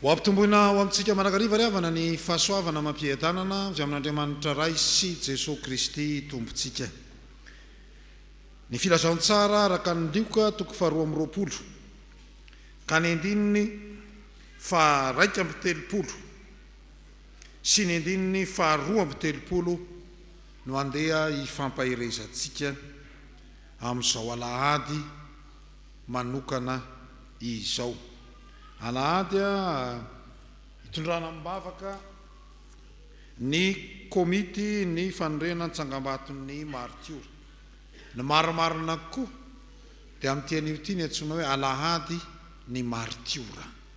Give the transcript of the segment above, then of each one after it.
Ho ampitomboina ao amintsika mandrakariva ry havana ny fahasoavana amam-piadanana avy amin'Andriamanitra Ray sy Jesoa Kristy Tompontsika. Ny Filazantsara araka ny Lioka toko faharoa amby roapolo ka ny andininy faharaika amby telopolo. sy ny andininy faharoa amby telopolo no andeha hifampaherezantsika amin'izao alahady manokana izao. Alahady hitondrana amim-bavaka ny Komity ny fanorenana ny Tsangambaton'ny Maritiora. Ny marimarina koa dia amin'ity anio ity ny antsoina hoe Alahady ny Maritiora.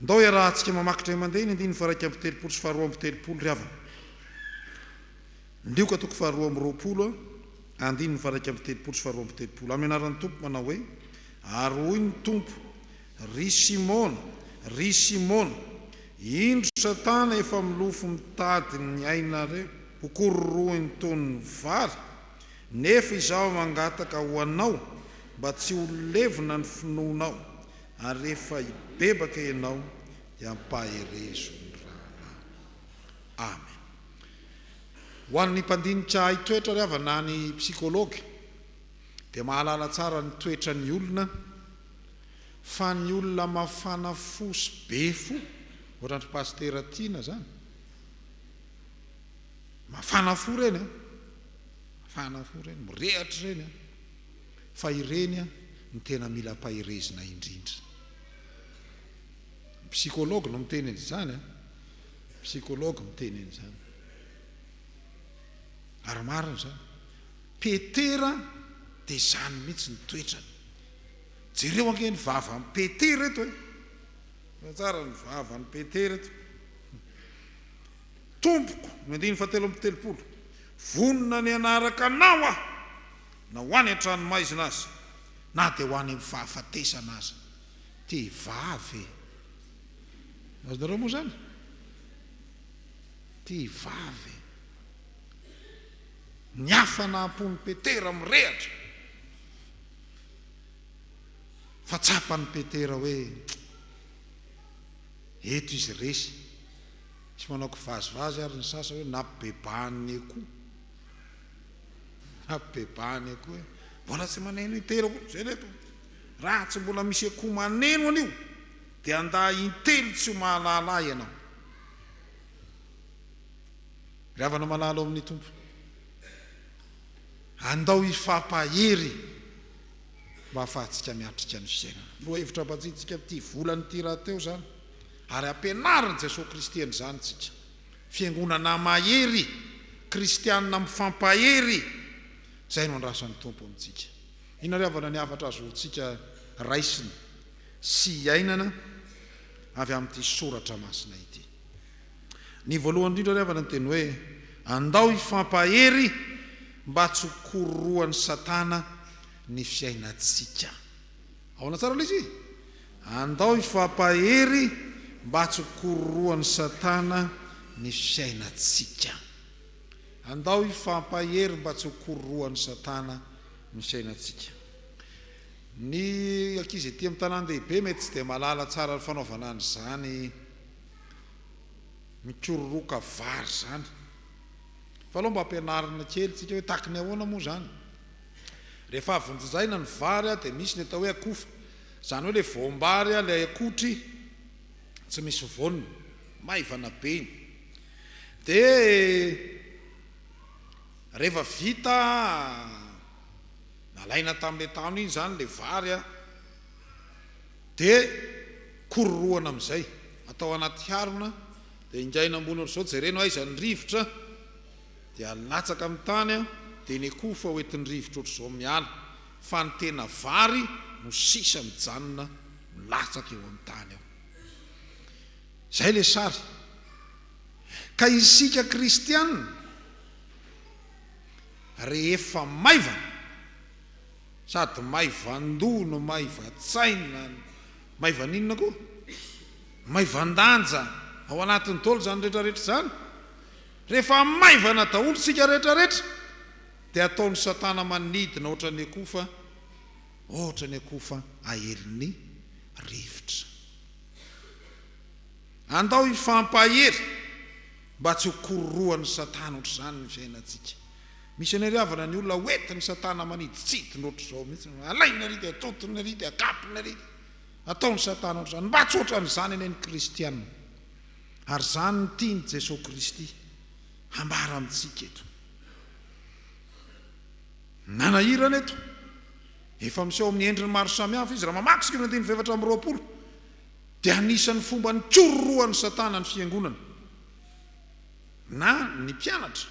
Ndao iarahantsika mamaky indray mandeha ny andininy faha-iraika amby telopolo sy faha-roa amby telopolo ry havana. Lioka toko faharoa amby roapolo andininy faha-iraika amby telopolo sy faha-roa amby telopolo, amin'ny anaran'ny Tompo manao hoe, Ary hoy ny Tompo, Ry Simona, ry Simona, indro Satana efa milofo mitady ny ainareo ho kororohiny toy ny vary, nefa izaho mangataka ho anao mba tsy ho levona ny finoanao, Ary rehefa hibebaka ianao dia ampaherezo ny rahalahy. Amen. Ho an'ny mpandinika hahay toetra ry havana na ny psychologue dia mahalala tsara ny toetran'ny olona fa ny olona mafana fo sy be fo ohatran'dry pasitera Tiana zany mafana fo reny an, mafana fo reny, mirehatra reny an, Fa ireny no tena mila ampaherezina indrindra. Ny psychologue no miteny an'izany an! Ny psychologue miteny an'izany. Ary marina izany. Petera dia izany mihitsy ny toetrany. Jereo ange ny vavan'i Petera eto e! Jereo tsara ny vavan'i Petera eto. Tompoko, ny andininy fahatelo amby telopolo, vonona ny hanaraka Anao aho. Na ho any an-tranomaizina aza, na dia ho any amin'ny fahafatesana aza, tia vavy e! Azonareo moa izany? Tia vavy e! Ny hafa naha-mpon'i Petera mirehatra, fa tsapan'i Petera hoe eto izy resy. Misy manao kivazivazy ary ny sasany hoe napibebahan'ny echo. Habebahany akoho e! Mbola tsy maneno intelo akoho zay le to! Raha tsy mbola misy akoho maneno anio dia andà intelo tsy ho mahalala ahy ianao! Ry havana malala ao amin'ny Tompo, andao hifampahery mba hahafahantsika miatrika ny fiainana. Lohahevitra ambatsitsika amin'ity volan'ity rahateo izany, ary ampianarin'i Jesoa Kristy an'izany isika. Fiangonana mahery, kristianina mifampahery, izay no andrasan'ny Tompo amintsika. Inona ry havana ny hafatra azontsika raisina sy iainana avy amin'ity soratra masina ity? Ny voalohany indrindra ry havana ny teny hoe, andao hifampahery mba tsy ho kororohan'i Satana ny fiainantsika. Ahoana tsara ilay izy? Andao hifampahery mba tsy hokororohan'i Satana ny fiainantsika. Andao hifampahery mba tsy hokororohan'i Satana ny fiainantsika. Ny ankizy ety amin'ny tanàn-dehibe mety tsy dia mahalala tsara ny fanaovana an'izany mikororoka vary izany. Fa aleo mba ampianarina kely tsika hoe tahaka ny ahoana moa izany. Rehefa avy vonjizaina ny vary dia misy ny atao hoe akofa, izany hoe ilay voam-bary ilay akotry tsy misy voany, maivana be iny. Dia rehefa vita nalaina tamin'ilay tahony iny izany ilay vary dia kororohana amin'izay, atao anaty harona dia ingaina ambony ohatr'izao, jerena hoe aiza ny rivotra. Dia latsaka amin'ny tany aho, dia ny akoho fa hoentin-drivotra ohatr'izao miala, fa ny tena vary no sisa mijanona milatsaka eo amin'ny tany ao. Izay ilay sary. Ka isika kristiana, rehefa maivana, sady maivan-doha no maivan-tsaina, maivan'inona koa? Maivan-danja ao anatin'ny daholo izany rehetrarehetra izany. Rehefa maivana daholo isika rehetra rehetra dia ataon'i satana manidina ohatran'ny akoho fa ohatran'ny akoho fa aelin'ny rivotra. Andao hifampahery mba tsy ho kororohan'i satana ohatr'izany ny fiainantsika. Misy anareo havana ny olona hoentin'i satana manidintsidina ohatr'izao mihitsy, alainy ary dia atotiny ary dia akapony ary dia ataon'i satana ohatr'izany. Mba tsy ohatran'izany anie ny kristiana. Ary izany no tian'i Jesoa Kristy hambara amintsika eto. Nanahirana eto. Efa miseho amin'ny endriny maro samihafa izy. Raha mamaky isika ny andininy fahefatra amby roapolo, dia anisan'ny fomba nikororohan'i Satana ny fiangonana, na ny mpianatra.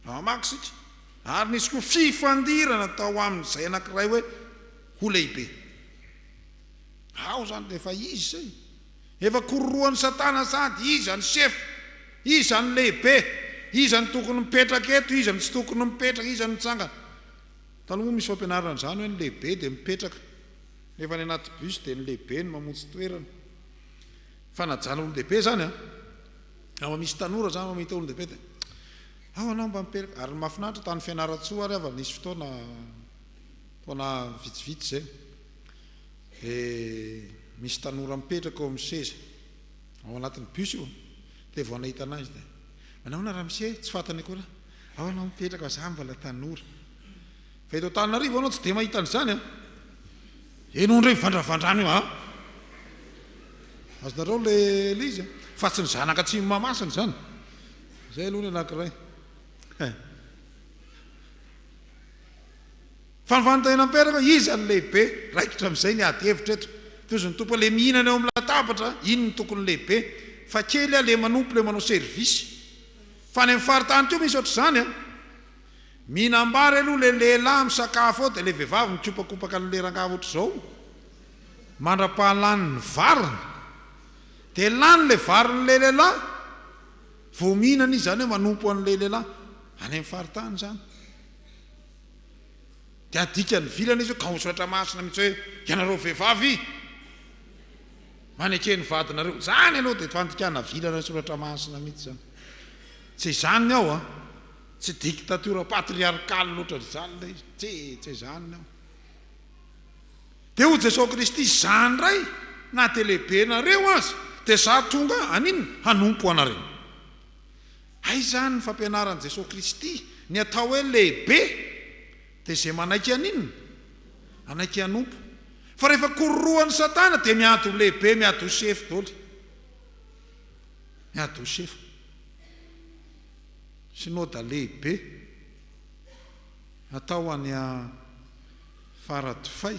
Raha mamaky isika, Ary nisy koa fifandirana tao aminy izay anankiray hoe ho lehibe. Ao izany dia efa izy izay. Efa kororohan'i Satana sady iza ny chef, iza ny lehibe, iza ny tokony mipetraka eto, iza ny tsy tokony mipetraka, iza ny mitsangana. Taloha moa misy fampianarana an'izany hoe ny lehibe dia mipetraka, nefa any anaty bus dia ny lehibe no mamontsy toerana. Fanajana olon-dehibe izany an! Raha mba misy tanora izany mba mahita olon-dehibe dia ao ianao mba mipetraka. Ary ny mahafinaritra tany Fianarantsoa ary aho efa nisy fotoana, taona vitsivitsy izay. Dia misy tanora mipetraka eo amin'ny seza, ao anatin'ny bus io, dia vao nahita an'ahy izy dia, Manao ahoana ramose? Tsy fantany akory aho, Ao ianao mipetraka fa izaho mbola tanora. Fa eto Antananarivo ianao tsy dia mahita an'izany an! Ianao indray mivandravandrana eo an! Azonareo ilay izy an! Fa tsy ny zanaka atsimo Mahamasina izany! Izay aloha ny anankiray. Fa ny fanontaniana mipetraka hoe iza no lehibe? Raikitra amin'izay ny ady hevitra eto. Toy izany tompony le mihinana eo amin'ny latabatra, iny no tokony lehibe. Fa kely le manompo le manao service. Fa any amin'ny faritany koa misy ohatr'izany an! Mihinam-bary aloha le lehilahy misakafo eo dia le vehivavy mikopakopaka an'le rangahy ohatr'izao mandra-pahalany ny variny. Dia lany le varin'le lehilahy vao mihinana izy izany hoe manompo an'le lehilahy. Any amin'ny faritany izany. Dia adika ny vilana izy io ka ho soratra masina mihitsy hoe ianareo vehivavy maneke ny vadinareo. Izany aloha dia fandikana vilana soratra masina mihitsy izany. Tsy izany ny ao an. Tsy dictature patriarcale loatra ry zany ilay izy. Tsy, tsy izany ny ao. Dia hoy Jesoa Kristy, izaho indray na dia lehibenareo aza dia izaho tonga haninona? Hanompo anareo. Hay izany ny fampianaran'i Jesoa Kristy, ny atao hoe lehibe dia izay manaiky haninona? Hanaiky hanompo. Fa rehefa kororohan'i Satana dia miady ho lehibe, miady ho sefo doly. Miady ho sefo. Synoda lehibe atao any Faradofay.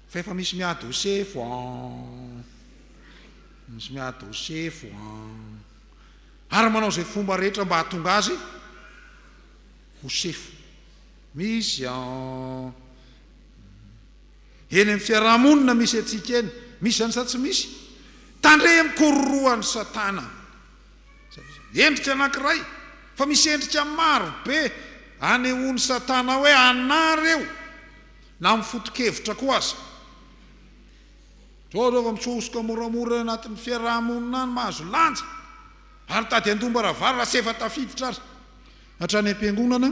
Fa efa misy miady ho sefo an. Misy miady ho sefo an. ary manao izay fomba rehetra mba hahatonga azy ho sefo. Misy eny amin'ny fiaraha-monina misy antsika eny, misy izany sa tsy misy? Tandremo kororohan'i Satana. Endrika anankiray, fa misy endrika maro be anehoan'i Satana hoe anà ireo, na amin'ny foto-kevitra koa aza. Toa zao vao misohosoka moramora eo anatin'ny fiaraha-monina any mahazo lanja ary tady handom-ba ravalo raha tsy efa tafiditra ary hatrany am-piangonana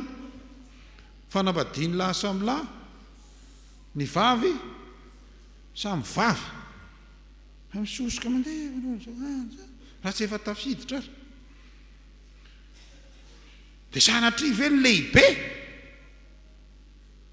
fanambadian'ny lahy samy lahy ny vavy samy vavy. Fa misohosoka mandeha eo ianao zao lanja raha tsy efa tafiditra ary. Dia sanatria ve ny lehibe?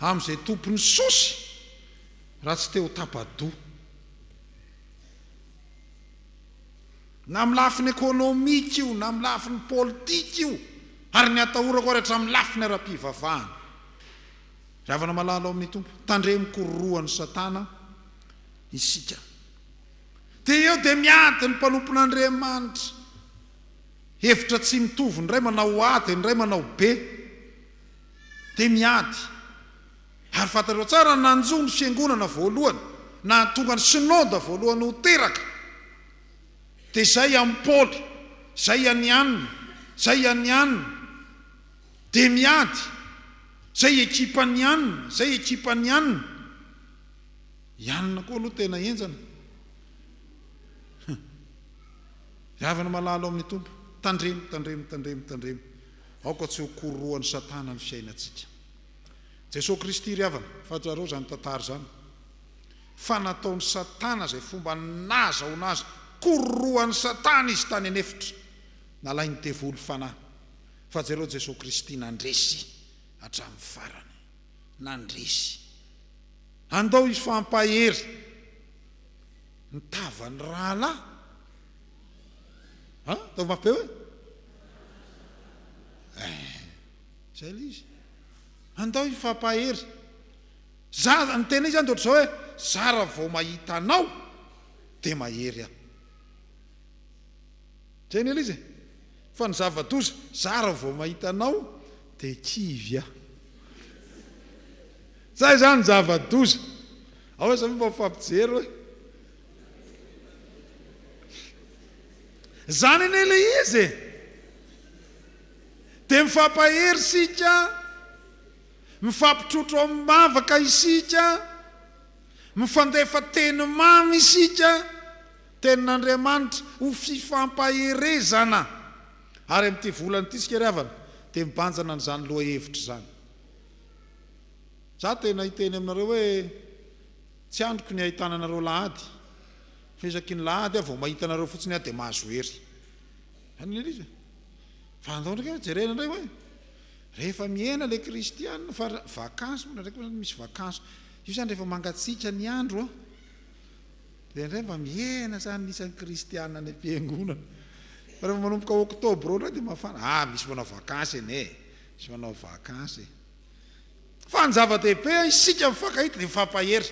amin'izay tompon'ny sosy raha tsy te ho tapa-doha. Na amin'ny lafiny ekonomika io, na amin'ny lafiny politika io, ary ny atahorako ary hatramin'ny lafiny ara-pivavahana. Ry havana malala ao amin'ny Tompo, tandremo ko rorohan'i Satana isika. Dia eo dia miady ny mpanompon'Andriamanitra. Hevitra tsy mitovy, ny iray manao ady, ny iray manao be. dia miady. Ary fantatrao tsara ny nanjo ny Fiangonana voalohany, nahatonga ny Synode voalohany ho teraka, dia izay an'i Paoly, izay an'i Anna, izay an'i Anna, dia miady, izay ekipan'i Anna, izay ekipan'i Anna. I Anna koa aloha tena henjana. Ry havana malala ao amin'ny Tompo, tandremo, tandremo, tandremo, tandremo. Aoka tsy ho kororohan'i Satana ny fiainantsika. Jesoa Kristy ry havana, fahatsiarao izany tantara izany, fa nataon'i Satana izay fomba nahazahoana azy, kororohan'i Satana izy tany an'efitra, nalain'ny devoly fanahy, fa jereo Jesoa Kristy nandresy hatramin'ny farany, nandresy. Andao hifampahery ny tavan'ny rahalahy. Ha? Ataovy mafy be hoe? Eh, zay ilay izy. Andao hifampahery. Za, ny tena izy zany dia ohatr'izao hoe, za raha vao mahita anao dia mahery aho. Zay ny ilay izy e. Fa ny zava-doza, za raha vao mahita anao dia kivy aho. Zay zany ny zava-doza. Ahoana izany mba mifampijery hoe? Izany anie ilay izy e! Dia mifampahery isika, mifampitrotro amim-bavaka isika, mifandefa teny mamy isika, Tenin'Andriamanitra, ho fifampaherezana. Ary amin'ity volana ity isika ry havana dia mibanjina an'izany lohahevitra izany. Izaho tena hiteny aminareo hoe. Tsy andriko ny ahitana anareo lahady fa isaky ny lahady aho vao mahita anareo fotsiny aho dia mahazo hery. Any le Lisa. Fa andao ndray ka jerena ndray hoe rehefa mihena le kristiana fa vakansy moa ndraindraiky zany misy vakansy io zany rehefa mangatsiaka ny andro an dia ndray mba mihena zany ny isan'ny kristiana any am-piangonana. Fa rehefa manomboka oktobra eo ndray dia mafana. Ah misy manao vakansy anie e. Misy manao vakansy e. Fa ny zava-dehibe a isika mifankahita dia mifampahery.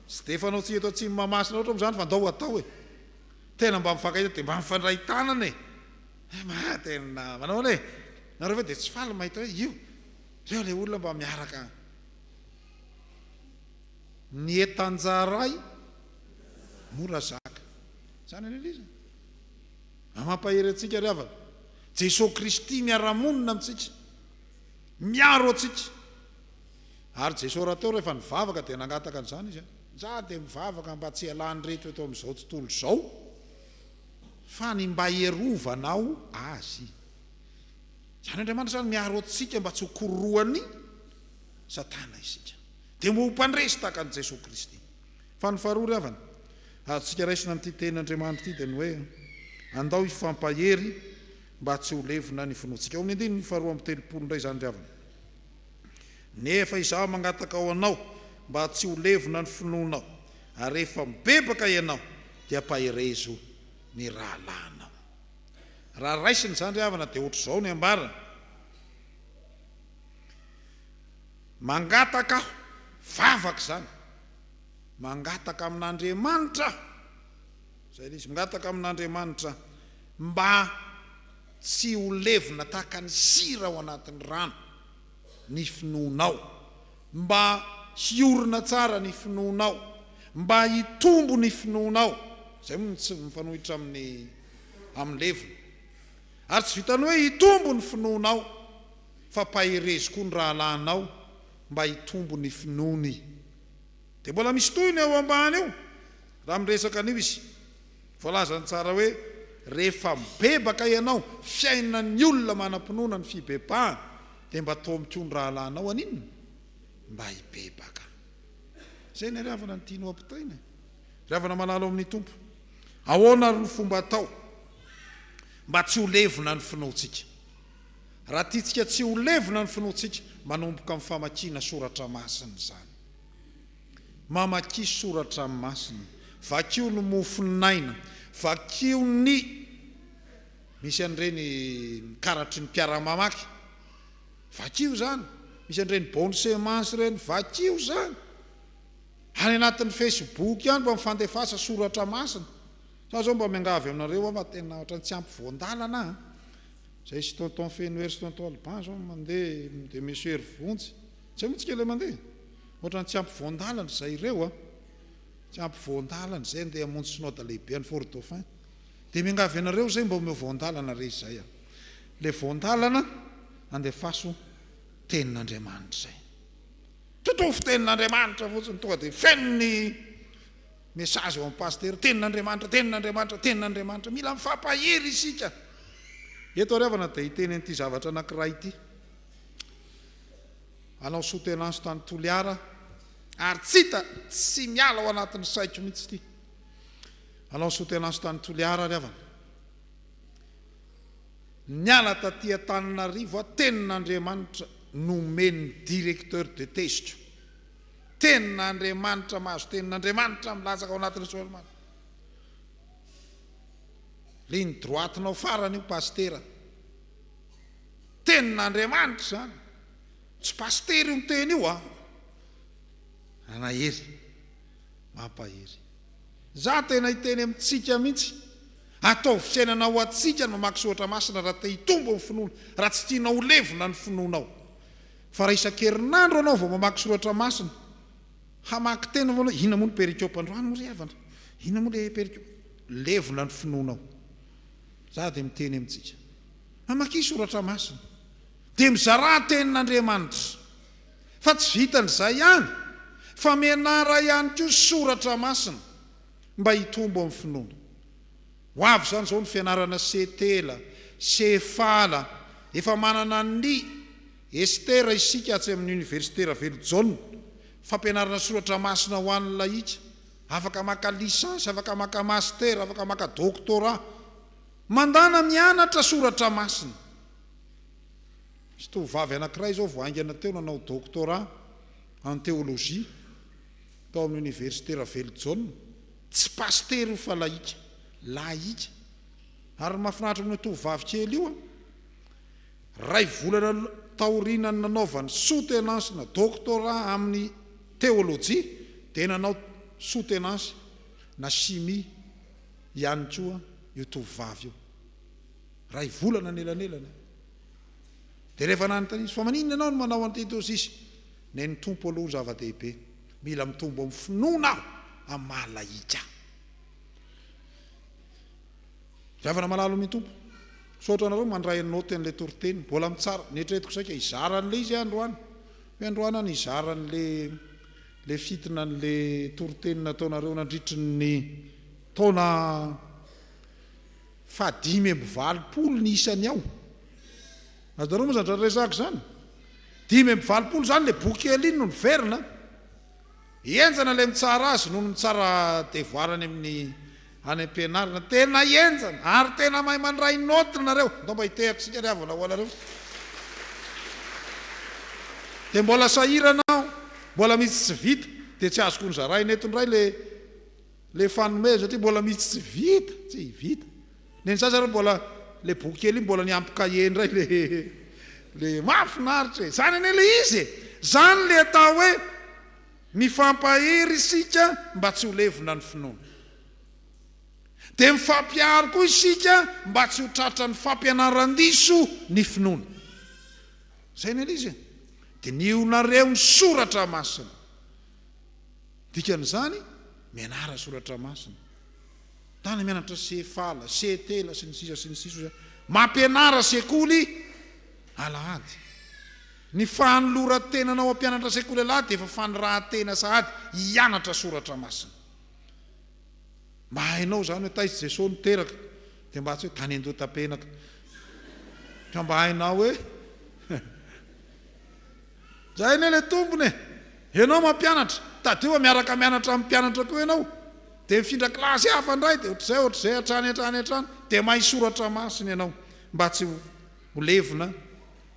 Tsy dia fanao tsy eto atsimo Mahamasina loatra moa izany fa ndao atao e. Tena mba mifankahita dia mba mifandray tanana e. Eh ma tena manahoana e. Nareo ve dia tsy faly mahita hoe io. Reo le olona mba miaraka. Ny etanjaray mora zaka. Zany anie le izy e. Mba mampahery antsika ry havana. Jesoa Kristy miara-monina amintsika. Miaro antsika. Ary Jesoa raha teo rehefa nivavaka dia nangataka an'izany Izy, Zah dia mivavaka mba tsy hialan'ireto eto amin'izao tontolo izao, fa ny mba hierovanao azy. Izany Andriamanitra izany miaro antsika mba tsy ho kororohan'i Satana isika. Dia mba ho mpandresy tahaka an'i Jesoa Kristy. Fa ny faharoa ry havana, azontsika raisina amin'ity tenin'Andriamanitra ity dia ny hoe, Andao hifampahery, mba tsy ho levona ny finoantsika. Ao amin'ny andininy faharoa amby telopolo indray izany ry havana. Nefa izaho mangataka ho anao mba tsy ho levona ny finoanao, ary rehefa mibebaka ianao, dia ampaherezo ny rahalahinao. Raha raisina izany ry havana, dia hoatr'izao ny ambarany, Mangataka aho, vavaka izany, mangataka amin'Andriamanitra aho, Izay ilay izy mingataka amin'Andriamanitra mba tsy ho levona tahaka ny sira ao anatin'ny rano ny finoanao, mba hiorina tsara ny finoanao, mba hitombo ny finoanao. Izay moa no tsy mifanohitra amin'ny amin'ny levona. Ary tsy vitan'ny hoe hitombo ny finoanao fa paherezo koa ny rahalahinao mba hitombo ny finoany. Dia mbola misy tohiny eo ambany eo raha miresaka an'io izy. Voalazany tsara hoe, Rehefa mibebaka ianao, fiainan'ny olona manam-pinoana ny fibebahana, dia mba toa mikoa ny rahalahinao haninona? Mba hibebaka. Izay ny hariavana ny tiany ho ampitaina e! Ry havana malala ao amin'ny Tompo, ahoana àry no fomba atao mba tsy ho levona ny finoantsika? Raha tiantsika tsy ho levona ny finoantsika, manomboka amin'ny famakiana soratra masina izany. Mamakia soratra masina. Vakio ny mofon'aina. Vakio ny Misy an'ireny karatry ny mpiara-mamaky. Vakio izany. Misy an'ireny bonne semence ireny. Vakio izany. Any anatin'ny Facebook any mba mifandefasa soratra masina. Sa izao mba miangavy aminareo aho fa tena ohatran'ny tsy ampy voan-dalana an. Izay sy tonton Fenohery sy tonton Alban izao mandeha dia monsieur Hery Vonjy. Tsy haiko mitsy kay ilay mandeha e! Ohatran'ny tsy ampy voan-dalana izay ireo an! Tsy ampy voan-dalana izay andeha hamonjy Synoda lehibe any Fort Dauphin. Dia miangavy anareo izay mba omeo voan-dalana re izay an! Ilay voan-dalana andefaso Tenin'Andriamanitra izay. Totofo Tenin'Andriamanitra fotsiny, tonga dia feno ny message ao amin'ny Pasitera, Tenin'Andriamanitra, Tenin'Andriamanitra, Tenin'Andriamanitra. Mila mifampahery isika! Eto ary havana dia hiteny an'ity zavatra anankiray ity. hanao soutenance tany Toliara ary tsy hita tsy miala ao anatin'ny saiko mihitsy ity hanao soutenance tany Toliara ry havana niala taty Antananarivo aho tena Andriamanitra nomen'ny directeur de teziko tena Andriamanitra mahazo tena Andriamanitra milatsaka ao anatin'ny soalimana ligne droite-nao farany io pasitera Tenin'Andriamanitra izany. Tsy pasitera io miteny io an! Manahery. Mampahery. Izaho tena hiteny amintsika mihitsy, ataovy fiainana ho antsika ny mamaky soratra masina raha te hitombo ny finoana, raha tsy tianao ho levona ny finoanao. Fa raha isan-kerinandro ianao vao mamaky soratra masina, hamaky teny vao ianao, inona moa ny perikopa androany moa ry havana? Inona moa ilay perikopa? Levona ny finoanao. Izaho dia miteny amintsika. Mamakia soratra masina dia mizarà tenin'Andriamanitra. Fa tsy vitan'izay ihany fa mianara ihany koa soratra masina mba hitombo amin'ny finoana. Ho avy izany izao ny fianarana Setela, Sefala, efa manana ny Estera isika atsy amin'ny Oniversite Ravelojaona, fampianarana soratra masina ho an'ny lahika, afaka maka lisansy, afaka maka mastera, afaka maka doctorat. Mandàna mianatra soratra masina. Misy tovovavy anankiray izao vao haingana teo nanao doctorat en théologie tao amin'ny oniversite Ravelojaona, tsy pasitera io fa lahika, lahika. Ary ny mahafinaritra amin'io tovovavy kely io an, iray volana taorianan'ny nanaovany soutenance na doctorat amin'ny théologie dia nanao soutenance na chimie. ihany koa io tovovavy io. Iray volana ny elanelany. Dia rehefa nanontaniana izy, fa maninona ianao no manao an'ity toa sisa? Nen'ny Tompo aloha no zava-dehibe. Mila mitombo amin'ny finoana aho amin'ny maha lahika. Ry havana malalo amin'ny Tompo, misaotra anareo mandray en note an'ilay toriteny. Mbola mitsara, neritreretiko saika hizara an'ilay izy aho androany. Hoe androany aho nizara an'ilay. le fitina ny le toriteny nataonareo nandritry ny taona faha dimy amby valopolo ny isany ao azonareo moa zany zany resaka zany dimy amby valopolo zany le boky alin no niverina henjana le mitsara azy noho ny mitsara devoara any amin'ny Any ampianarana. Tena enjana ary tena mahay mandray notes nareo. Ndao mba hitehaka isika ry havana ho anareo. Dia mbola sahirana aho. Mbola misy tsy vita. Dia tsy azoko nozaraina eto indray le le fanomezana satria mbola misy tsy vita. Tsy hivita. Neny sasany ary mbola le boky kely iny mbola niampy cahier indray le le mahafinaritra e. Izany anie le izy e. Izany le atao hoe. Mifampahery isika mba tsy ho levona ny finoana. Dia mifampihary koa isika mba tsy ho tratran'ny fampianaran-diso ny finoana. Izay no Elizy e. Dinihonareo ny soratra masina. Dikan'izany, mianara soratra masina. Tany mianatra CFAL, CETEL sy ny sisa sy ny sisa. Mampianara sekoly alahady. Ny fanoloran-tenanao hampianatra sekoly alahy dia efa fanirahan-tena sahady hianatra soratra masina. Mba hainao izany hoe taiza i Jesoa no teraka, dia mba tsy hoe tany Andohatapenaka, fa mba hainao hoe izay anie ilay tompony e! Ianao mampianatra, tadidio fa miaraka mianatra amin'ny mpianatra koa ianao, dia mifindra kilasy hafa indray, dia ohatr'izay ohatr'izay hatrany hatrany hatrany, dia mahay soratra masina ianao, mba tsy ho levona.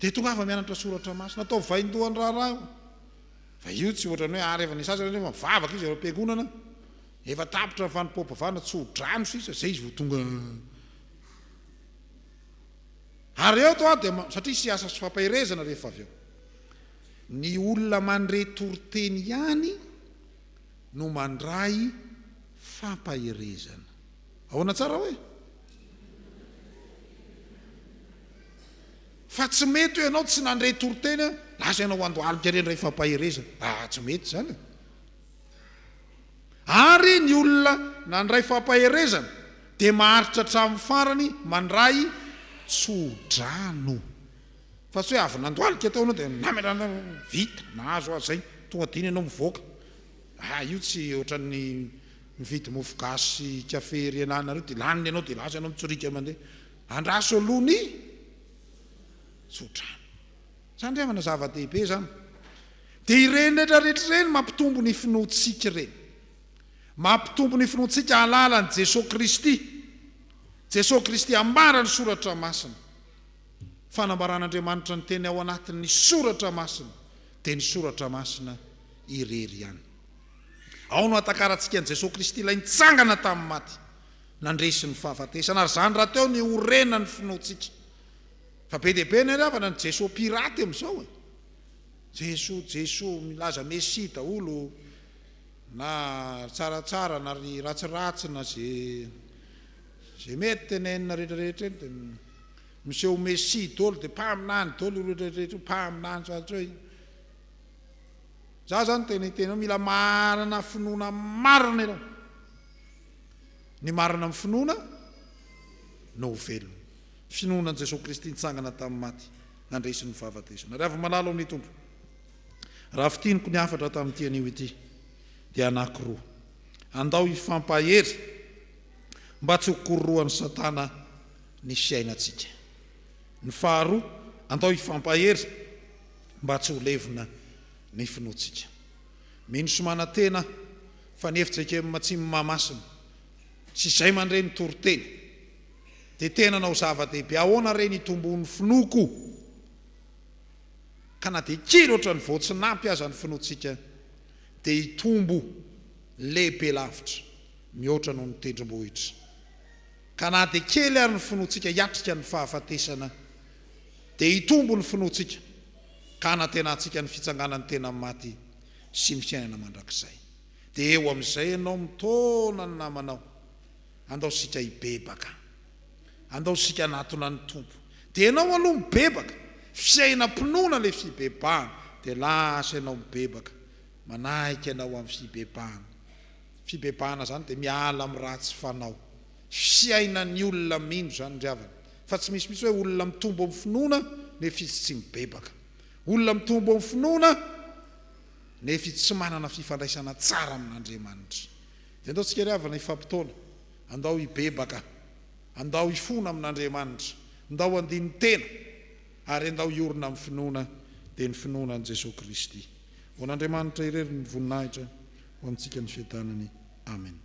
Dia tongava mianatra soratra masina. Ataovy vahindoha ny raharaha io. Fa io tsy ohatran'ny hoe ary efa nisasa ianao nefa mivavaka izy ao am-piangonana. Efa tapitra ny fanompoam-pivavahana, tso-drano sisa, izay izy vao tonga. Ary eto aho dia ma, satria hiasa sy fampaherezana rehefa avy eo. Ny olona mandre toriteny ihany no mandray fampaherezana. Ahoana tsara hoe? Fa tsy mety hoe ianao tsy nandre toriteny an, lasa ianao andohalika re indray fampaherezana. Aa tsy mety izany e. Ary ny olona nandray fampaherezana dia maharitra hatramin'ny farany mandray tso-drano. Fa tsy hoe avy nandohalika tao ianao dia namelana vita, nahazo azy izay, tonga dia iny ianao mivoaka. Aa io tsy ohatran'ny. Mividy mofo gasy sy kafe ery ananareo dia laniny ianao dia lasa ianao mitsoriaka mandeha. Andraso aloha ny tsodrano. Tsy andrefana zava-dehibe izany. Dia ireny rehetra rehetra ireny mampitombo ny finoantsika ireny. Mampitombo ny finoantsika hahalala an'i Jesoa Kristy. Jesoa Kristy ambara ny soratra masina. Fanambaran'Andriamanitra ny teny ao anatin'ny soratra masina dia ny soratra masina irery ihany. Ao no ahatakarantsika an'i Jesoa Kristy ilay nitsangana tamin'ny maty, nandresy ny fahafatesana, ary izany rahateo no iorenan'ny finoantsika. Fa be dia be ny haleavana ny Jesoa pirate amin'izao e! Jesoa, Jesoa, milaza Mesia daholo, na ry tsaratsara na ry ratsiratsy na ze, ze mety tenenina rehetrarehetra eny dia miseho ho Mesia daholo, dia mpaminany daholo ireo rehetrarehetra io, mpaminany, ohatra hoe. Za zany tena hiteny hoe mila manana finoana marina ianao. Ny marina amin'ny finoana no ho velona. Finoana an'i Jesoa Kristy nitsangana tamin'ny maty, nandresy ny fahafatesana. Ry havy malala ao amin'ny Tompo, raha fintiniko ny hafatra tamin'ity anio ity dia anankiroa. Andao hifampahery mba tsy ho kororohan'i Satana ny fiainantsika. Ny faharoa, andao hifampahery. mba tsy ho levona ny finoantsika. Mino sy manantena fa ny FJKM tsy Mahamasina sy izay mandre ny toriteny dia tena hanao zava-dehibe. Ahoana re ny hitomboan'ny finoako ka na dia kely ohatran'ny voatsinampy aza ny finoantsika dia hitombo lehibe lavitra mihoatra noho ny tendrombohitra ka na dia kely ary ny finoantsika hiatrika ny fahafatesana Dia hitombo ny finoantsika, ka hanantenantsika ny fitsanganan'ny tena amin'ny maty sy ny fiainana mandrakizay. Dia eo amin'izay ianao mitaona ny namanao. Andao isika hibebaka. Andao isika hanatona ny Tompo. Dia ianao aloha mibebaka. Fiainam-pinoana ilay fibebahana. Dia lasa ianao mibebaka. Manahika ianao amin'ny fibebahana. Fibebahana izany dia miala amin'ny ratsy fanao. fiainan'ny olona mino izany ry havana fa tsy misy mihitsy hoe olona mitombo amin'ny finoana nefa izy tsy mibebaka, olona mitombo amin'ny finoana nefa izy tsy manana fifandraisana tsara amin'Andriamanitra. Dia andao tsika ry havana hifampitaona, andao hibebaka, andao hifona amin'Andriamanitra, ndao handini tena ary andao hiorina amin'ny finoana, dia ny finoana an'i Jesoa Kristy. Ho an'Andriamanitra irery ny voninahitra, ho amintsika ny fiadanany. Amena.